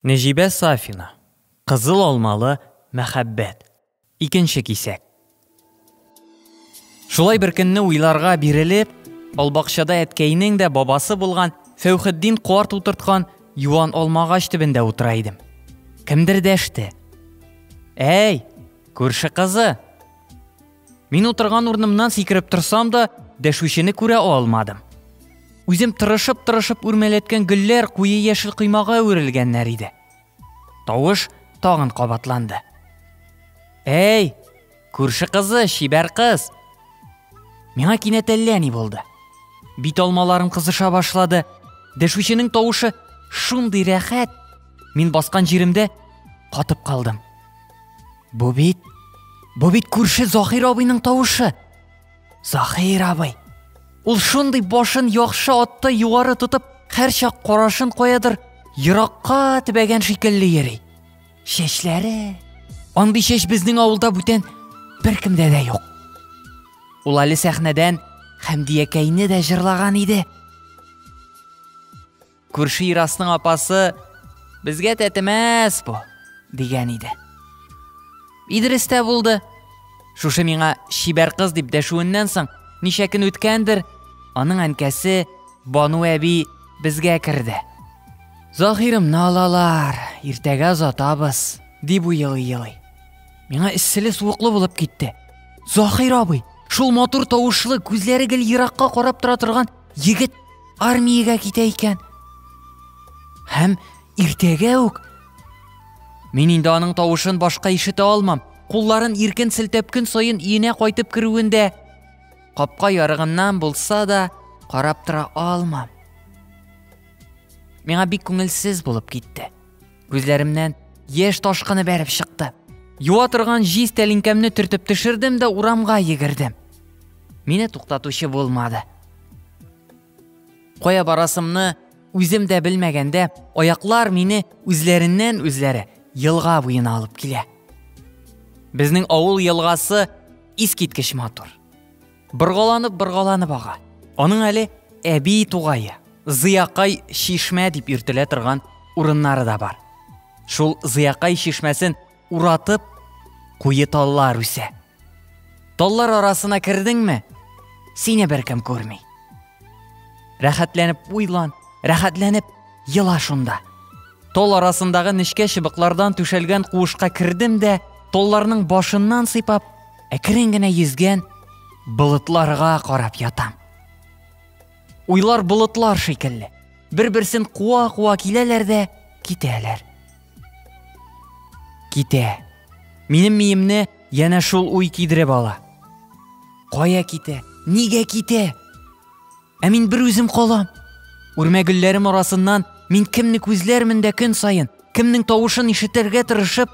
Нәҗибә Сафина, Кызыл алмалы мәхәббәт, икенче кисәк. Шулай бер көнне уйларга бирелеп, албакчада әткәйнең дә бабасы булган Фәүхетдин карт утырткан юан алмагач төбендә утыра идем. Кемдер дәште. Әй, күрше кызы! Мин утырган урынымнан сикереп торсам да, дәшүчене күрә алмадым. Үзем тырышып-тырышып үрмәләткән гөлләр куе яшел коймага әверелгәннәр иде. Тавыш тагын кабатланды. Әй, күрше кызы, чибәр кыз. Миңа кинәт әллә ни булды. Бит алмаларым кызыша башлады. Дәшүченең тавышы шундый рәхәт. Мин баскан җиремдә катып калдым. Бу бит Бу бит күрше Захир абыйның тавышы. Захир абый. Ул шундый башын яхшы атты югары тотып, һәрчак карашын куядыр, еракка тибәгән шикелле йөри. Чәчләре андый чәч безнең авылда бүтән беркемдә дә юк. Ул әле сәхнәдән Хәмдиякәйне дә җырлаган иде. Күрше Ирасның апасы безгә тәтемәс бу дигән иде. Идрис тә булды. Шушы миңа чибәр кыз дип дәшүеннән соң, ничә көн үткәндер, аның әнкәсе Бану әби безгә керде. Заһирымны алалар, иртәгә озатабыз, дип уелый-елый. Миңа эсселе суыклы булып китте. Заһир абый, шул матур тавышлы, күзләре гел еракка карап тора торган егет армиягә китә икән. Һәм иртәгә үк Мин инде аның тавышын башка ишетә алмам. Кулларын иркен селтәп көн саен иенә кайтып керүендә капка ярыгыннан булса да карап тора алмам. Миңа бик күңелсез булып китте. Күзләремнән яшь ташкыны бәреп чыкты. Юа торган җиз тәлинкәмне төртеп төшердем дә урамга йөгердем. Мине туктатучы булмады. Кая барасымны үзем дә белмәгәндә, аяклар мине үзләреннән үзләре елга буена алып килә. Безнең авыл елгасы искиткеч матур. Боргаланып, боргаланып ага. Аның әле әби тугае, Зыякай чишмә дип йөртелә торган урыннары да бар. Шул Зыякай чишмәсен уратып куе таллар үсә. Таллар арасына кердеңме, сине беркем күрми. Рәхәтләнеп уйлан, рәхәтләнеп ела шунда. Тол арасындагы нечкә чыбыклардан түшәлгән куышка кердем дә, толларның башыннан сыйпап, Әкрен генә йөзгән болытларга карап ятам. Уйлар болытлар шикелле. Бер-берсен куа-куа киләләр дә китәләр. Китә. Минем миемне янә шул уй кидереп ала. Кая китә? Нигә китә? Ә мин бер үзем калам. Үрмә гөлләрем арасыннан мин кемне күзләрмен дә көн саен, кемнең тавышын ишетергә тырышып,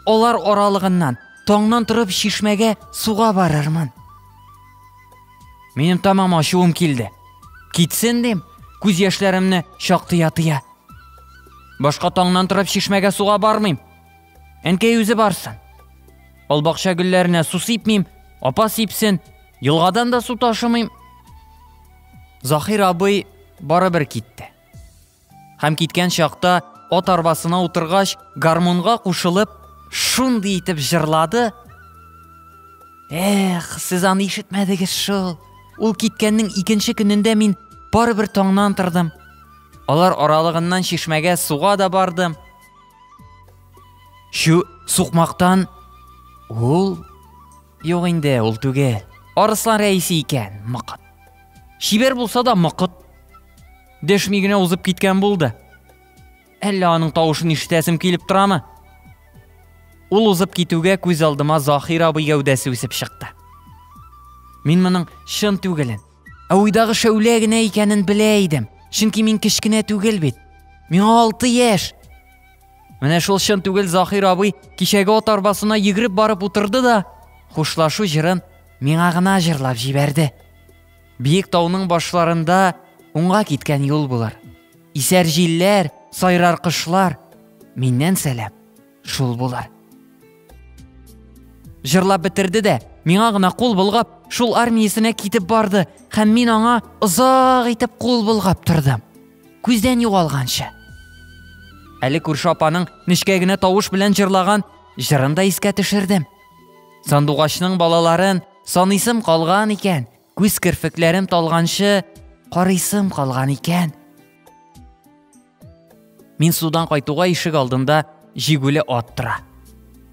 алар аралыгыннан таңнан торып чишмәгә суга барырмын. Минем тамам ачуым килде. Китсен дим, күз яшьләремне чактыя-тыя. Башка таңнан торып чишмәгә суга бармыйм. Әнкәй үзе барсын. Ал бакча гөлләренә су сипмим, апа сипсен, елгадан да су ташымыйм. Захир абый барыбер китте. Һәм киткән чакта ат арбасына утыргач, гармунга кушылып, шундый итеп җырлады. Эх, сез аны ишетмәдегез шул. Ул киткәннең икенче көнендә мин барыбер таңнан тордым. Алар аралыгыннан чишмәгә суга да бардым. Чү сукмактан ул юк инде, ул түгел. Арыслан рәисе икән, мыкыт. Шибер булса да мыкыт. Дәшми генә узып киткән булды. Әллә аның тавышын ишетәсем килеп торамы? Ул узып китүгә күз алдыма Захир абый гәүдәсе үсеп чыкты. Мин моның чын түгелен, Ә уйдагы шәүлә генә икәнен белә идем. Чөнки мин кечкенә түгел бит. Миңа алты яшь. Менә шул чын түгел Захир абый кичәге ат арбасына йөгереп барып утырды да, хушлашу җырын миңа гына җырлап җибәрде. Биек тауның башларында уңга киткән юл булыр. Исәр җилләр, сайрар кышлар. Миннән сәлам. Шул булар. Җырлап бетерде дә, миңа гына кул болгап, шул армиясенә китеп барды һәм мин аңа озак итеп кул болгап тордым. Күздән югалганчы. Әле күрше апаның нечкә генә тавыш белән җырлаган җырын да искә төшердем. Сандугачның балаларын саныйсым калган икән, күз керфекләрем талганчы карыйсым калган икән. Мин судан кайтуга ишек алдында җигүле ат тора.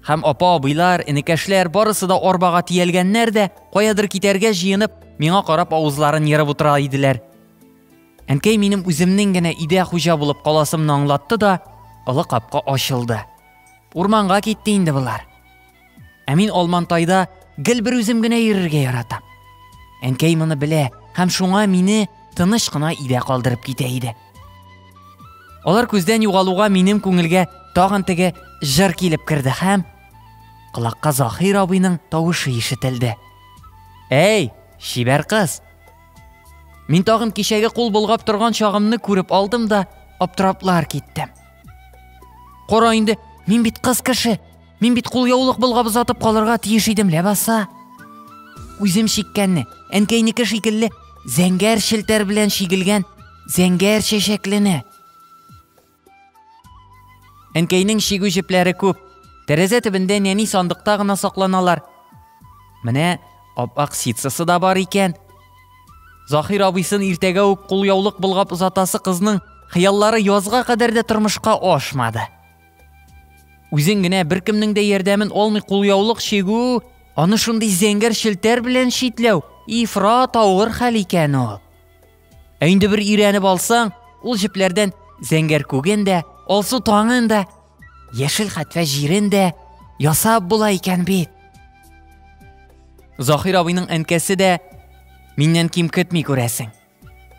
Һәм апа абыйлар, энекәшләр барысы да арбага тиялгәннәр дә, каядыр китәргә җыенып, миңа карап авызларын ерып утыра иделәр. Әнкәй минем үземнең генә идә хуҗа булып каласымны аңлатты да, олы капка ачылды. Урманга китте инде болар. Ә мин Алмантайда гел бер үзем генә йөрергә яратам. Әнкәй моны белә һәм шуңа мине тыныч кына өйдә калдырып китә иде. Алар күздән югалуга минем күңелгә тагын теге җыр килеп керде һәм колакка Захир абыйның тавышы ишетелде. Әй, чибәр кыз. Мин тагын кичәге кул болгап торган чагымны күреп алдым да, аптыраплар киттем. Кора инде, мин бит кыз кеше, Мин бит кулъяулык болгап озатып калырга тиеш идем, ләбаса. Үзем чиккәнне, әнкәйнеке шикелле, зәңгәр челтәр белән чигелгән зәңгәр чәчәклене. Әнкәйнең чигү җепләре күп. Тәрәзә төбендә нәни сандыкта гына сакланалар. Менә ап-ак ситсасы да бар икән. Захир абыйсын иртәгә үк кулъяулык болгап озатасы кызның хыяллары язга кадәр дә тормышка ашмады. Үзең генә беркемнең дә ярдәмен алмый кулъяулык чигү, аны шундый зәңгәр челтәр белән читләү ифрат авыр хәл икән ул. Ә инде бер өйрәнеп алсаң, ул җепләрдән зәңгәр күген дә, алсу таңын да, яшел хәтфә җирен дә ясап була икән бит. Заһир абыйның әнкәсе дә миннән ким көтми күрәсең.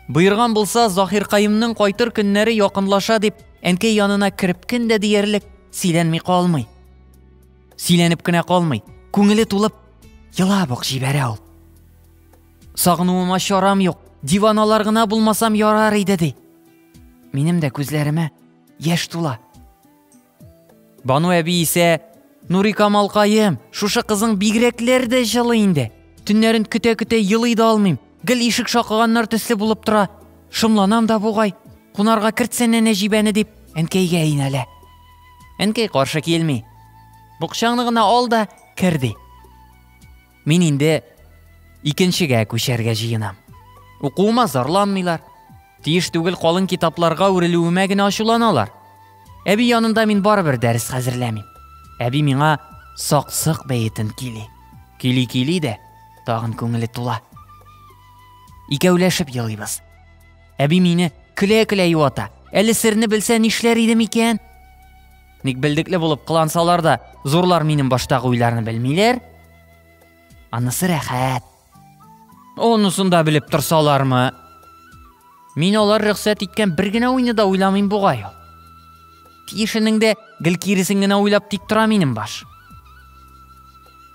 Боерган булса, Заһиркаемның кайтыр көннәре якынлаша дип, әнкәй янына кереп көн дә диярлек сөйләнми калмый. Сөйләнеп кенә калмый, күңеле тулып, елап ук җибәрә ул. Сагынуыма чарам юк, диваналар гына булмасам ярар иде ди. Минем дә күзләремә яшь тула. Бану әби исә, Нурикамалкаем, шушы кызың бигрәкләр дә җылы инде. Төннәрен көтә-көтә елый да алмыйм. Гел ишек шакыганнар төсле булып тора. Шомланам да бугай. Кунарга кертсәнә Нәҗибәне дип, әнкәйгә инәлә. Әнкәй каршы килми. Букчаңны гына ал да кер ди. Мин инде икенчегә күчәргә җыенам. Укуыма зарланмыйлар. Тиеш түгел калын китапларга үрелүемә генә ачуланалар. Әби янында мин барыбер дәрес хәзерләмим. Әби миңа саксык бәетен кили. Кили-кили дә тагын күңеле тула. Икәүләшеп елыйбыз. Әби мине көлә-көлә юата. Әле серне белсә нишләр идем икән? Ник белдекле булып кылансалар да, зурлар минем баштагы уйларны белмиләр? Анысы рәхәт. Онысын да белеп торсалармы? Мин алар рөхсәт иткән бер генә уйны да уйламыйм бугай ул. Тиешенең дә гел киресен генә уйлап тик тора минем баш.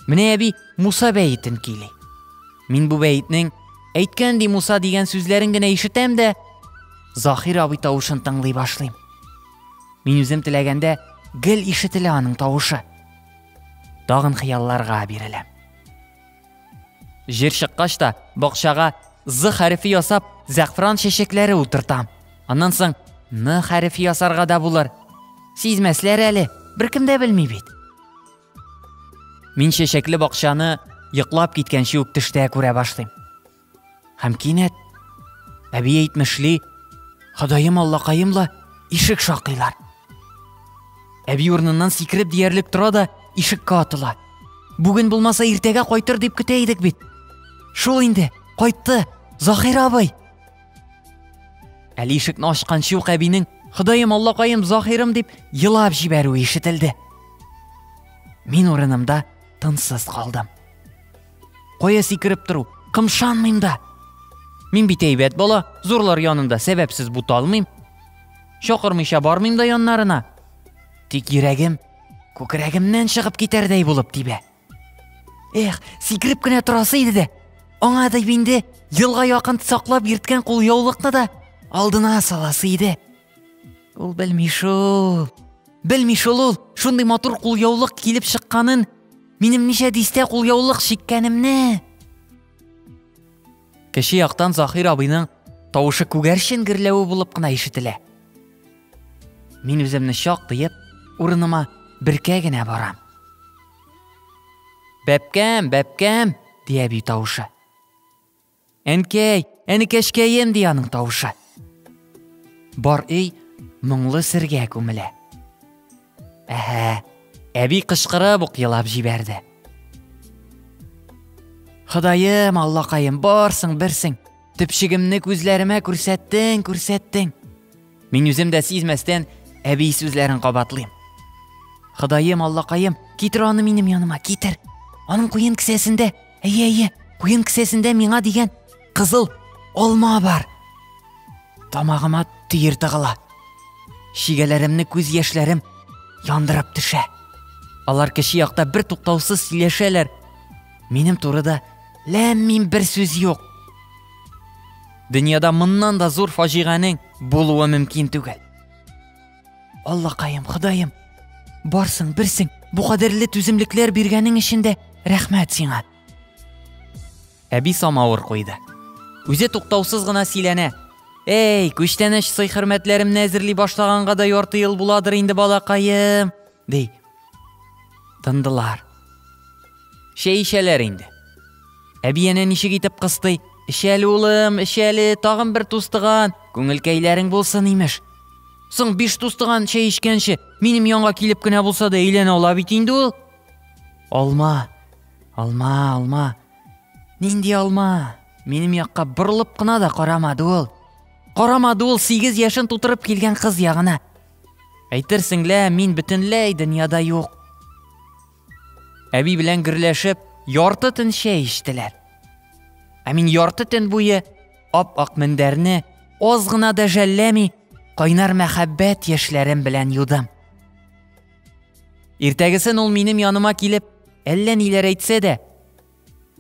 Менә әби Муса бәетен кили. Мин бу бәетнең әйткән ди Муса дигән сүзләрен генә ишетәм дә Захир абый тавышын тыңлый башлыйм. Мин үзем теләгәндә гел ишетелә аның тавышы. Тагын хыялларга биреләм. Җир чыккач та бакчага З хәрефе ясап, зәгъфран чәчәкләре утыртам. Аннан соң Н хәрефе ясарга да булыр. Сизмәсләр әле, беркем дә белми бит. Мин чәчәкле бакчаны йоклап киткәнче үк төштә күрә башлыйм. Һәм кинәт әби әйтмешли, Ходаем аллакаем ла ишек шакыйлар. Әби урыныннан сикереп диярлек тора да ишеккә атыла. Бүген булмаса иртәгә кайтыр дип көтә идек бит. Шул инде, кайтты, Захир абый. Әле ишекне ачканчы ук әбинең Ходаем аллакаем Захирым дип елап җибәрүе ишетелде. Мин урынымда тынсыз калдым. Кая сикереп тору? Кымшанмыйм да. Мин бит әйбәт бала, зурлар янында сәбәпсез буталмыйм. Чакырмыйча бармыйм да яннарына. Тик йөрәгем күкрәгемнән чыгып китәрдәй булып тибә. Эх, сикереп кенә торасы иде дә. Аңа да инде елга якын саклап йөрткән кулъяулыкны да алдына саласы иде. Ул белми шул. Белми шул ул. Шундый матур кулъяулык килеп чыкканын, минем ничә дистә кулъяулык чиккәнемне. Кеше яктан Захир абыйның тавышы күгәрчен герләве булып кына ишетелә. Мин үземне чак тыеп, урыныма беркә генә барам. Бәпкәм, бәпкәм, дия бию тавышы. Әнкәй, әнекәшкәем, ди аның тавышы. Бар өй моңлы сергә күмелә. Әһә, әби кычкырып ук елап җибәрде. Ходаем, Аллакаем, барсың, берсең. Төпчегемне күзләремә күрсәттең, күрсәттең. Мин үзем дә сизмәстән әби сүзләрен кабатлыйм. Ходаем, Аллакаем, китер аны минем яныма, китер. Аның куен кесәсендә Әйе, әйе, куен кесәсендә миңа дигән кызыл алма бар. Тамагыма төер тыгыла. Шигәләремне күз яшьләрем яндырып төшә. Алар кеше якта бер туктаусыз сөйләшәләр. Минем турыда ләм-мим бер сүз юк. Дөньяда моннан да зур фаҗиганең булуы мөмкин түгел. Аллакаем, Ходаем, барсың, берсең, бу кадерле түземлекләр биргәнең өчен дә рәхмәт сиңа. Әби самавыр куйды. Үзе туктаусыз гына сөйләнә. Эй, күчтәнәч сый-хөрмәтләремне әзерли башлаганга да ярты ел буладыр инде балакаем. Ди. Тындылар. Чәй эчәләр инде. Әби әнә ничек итеп кыстый. Эчәле улым, эчәле, тагын бер тустыган. Күңелкәйләрең булсын, имеш. Соң биш тустыган чәй эчкәнче, минем янга килеп кенә булса да әйләнә ала бит инде ул. Алма. Алма, алма. Нинди алма? Минем якка борылып кына да карамады ул. Карамады ул 8 яшен тутырып килгән кыз ягына. Әйтерсең лә, мин бөтенләй дөньяда юк. Әби белән гөрләшеп, ярты төн чәй эчтеләр. Ә мин ярты төн буе ап-ак мендәрне аз гына да жәлләми, кайнар мәхәббәт яшьләрем белән юдым. Иртәгесен ул минем яныма килеп, әллә ниләр әйтсә дә,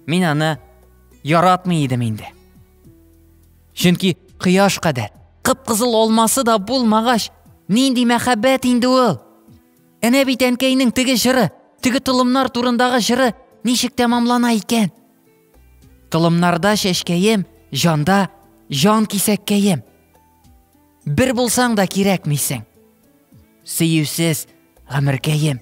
Мин аны яратмый идем инде. Чөнки кояш кадәр кып-кызыл алмасы да булмагач, нинди мәхәббәт инде ул? Әнә бит әнкәйнең теге җыры, теге толымнар турындагы җыры ничек тәмамлана икән? Толымнарда чәчкәем, җанда җан кисәккәем. Бер булсаң да кирәкмисең. Сөюсез гомеркәем.